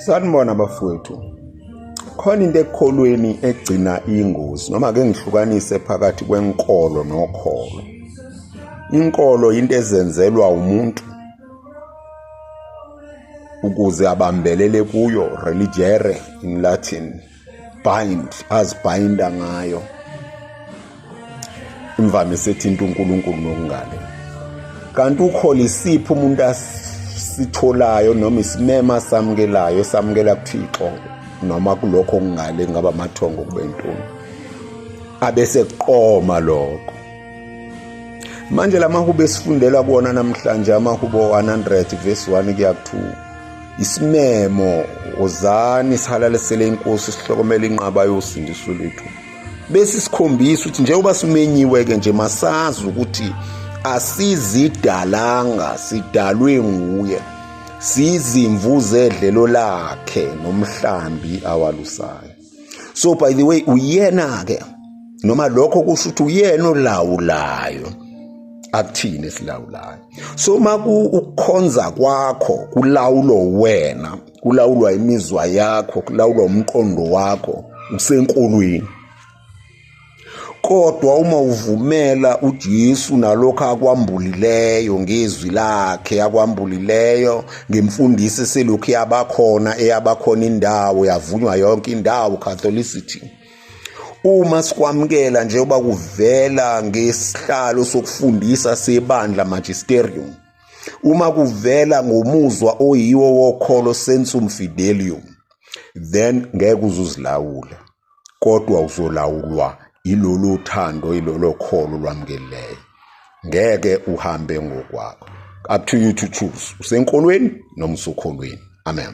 Sanibona bafowethu. Khona into ekholweni egcina ingozi noma ke ngihlukanise phakathi kwenkolo nokholo. Inkolo into ezenzelwa umuntu ukuze abambelele kuyo religere in Latin bind azibhinda ngayo imvamisa ethinta uNkulunkulu nokungane kanti ukhole isiphi umuntu asitholayo noma isimema samukelayo esamukela kuThixo noma kulokho okungale ngaba amathongo kube intoni abese kuqoma lokho manje lamahubo esifundela kuwona namhlanje amahubo 100 verse 1 kuya ku 2 isimemo wozani sihalalisele inkosi sihlokomele inqaba yosindiso lethu bese sikhombisa ukuthi njengoba simenyiwe-ke nje masazi ukuthi asizidalanga sidalwe nguye sizimvu zedlelo lakhe nomhlambi awalusayo so by the way uyena ke noma lokho kusho ukuthi uyena olawulayo akuthini esilawulayo so uma ukukhonza kwakho kulawulo wena kulawulwa imizwa yakho kulawulwa umqondo wakho usenkolweni Kodwa uma uvumela uJesu nalokho akwambulileyo ngezwi lakhe akwambulileyo ngemfundiso eselokhu yabakhona eyabakhona indawo yavunywa yonke indawo Catholicity uma sikwamukela njengoba kuvela ngesihlalo sokufundisa sebandla magisterium uma kuvela ngomuzwa oyiwo wokholo sensum fidelium then ngeke uzuzilawula kodwa uzolawulwa ilolu thando ilolo kholo lwamukeleyo ngeke uhambe ngokwakho up to you to choose usenkolweni noma usokholweni amen